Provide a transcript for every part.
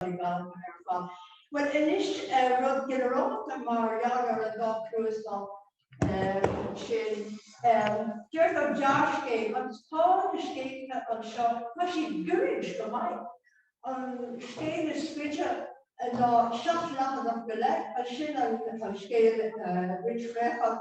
Sorry, Bob, ar fad. Bhuel, anois, rud ginearálta mar gheall ar an dá chnuasach sin, deir an gearrscéal, agus tá na scéalta anseo, tá siad goirid go maith. An scéal is faide ná seacht leathanach go leith, ansin an scéal Rinn Shraethach,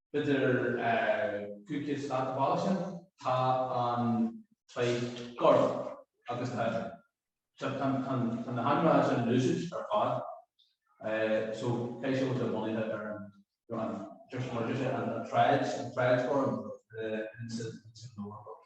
B'fhéidir cúige slat a bhaile sin. Tá an taighde gorm agus tá seo, tá na hainmhithe sin lucid ar fad so beidh sé muid bunaithe ar an deirtear, mar deirtear, an tsráid, an tsráid ghorm, ins an Eoraip.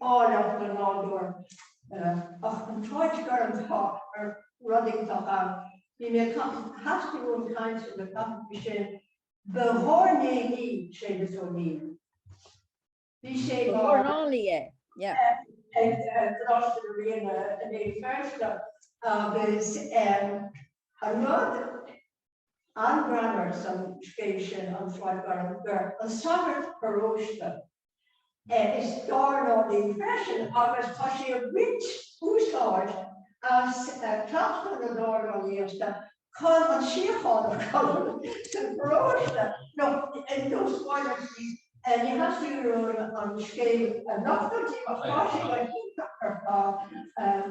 áilleacht na nádúr. Ach an t-áit gorm tá an rud iontach ann. Bhí mé theastaigh uaim caint ar na taifeadtaí sin. Ba dhornálaí é Séamus Ó Néill. Bhí sé mar dhornálaí é, yeah. ag Coláiste na Ríona i mBéal Feirste agus an rud an-ghreannmhar san scéal sin An tSráid Ghorm gur an sagart paróiste, Is dornálaí é freisin agus tá sé ag baint úsáid as cleachtadh na dornálaíochta chun an tsíocháin a chothú sa pharóiste nó i dtús báire bhí, ní theastaíonn uaim an scéal a nochtadh daoibh ach tá sé go hiontach ar fad,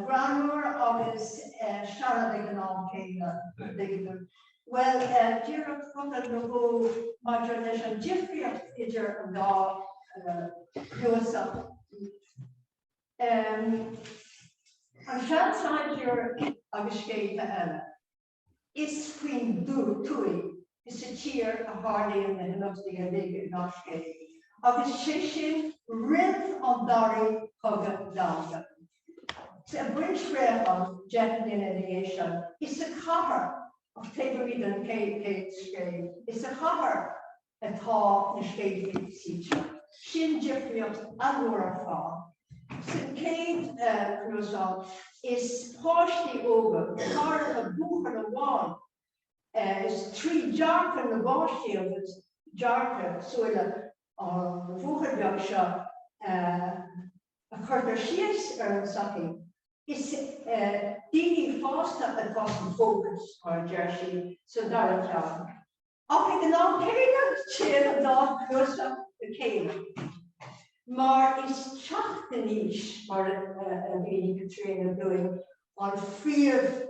greannmhar agus searbh ag an am céanna. Bhuel, díreach focal nó dhó maidir leis an difríocht idir an dá chnuasach. An Seansaighdiúir agus Scéalta Eile. Is faoin tuath, faoin tír a tharlaíonn na himeachtaí uilig i ngach scéal, agus sé sin roimh an dara cogadh domhanda. I Máire Nic Artáin deich mbliana ina dhiaidh sin is sa chathair, ach taobh amuigh den an chéad scéal, is sa chathair atá na scéalta suite. Sin difríocht an-mhór ar fad. Sa chéad chnuasach is páistí óga, go háirithe buachaill amháin, is trí dhearcadh na bpáistí agus dearcadh, súile, an bhuachaill bheag seo a. a chuirtear síos ar an tsochaí, is daoine fásta atá sa bhfócas, mar a deir sí sa dara ceann, ach ag an am céanna téann an dá chnuasach le chéile mar is teacht in aois, mar a mhínigh Caitríona dúinn, an phríomhthéama.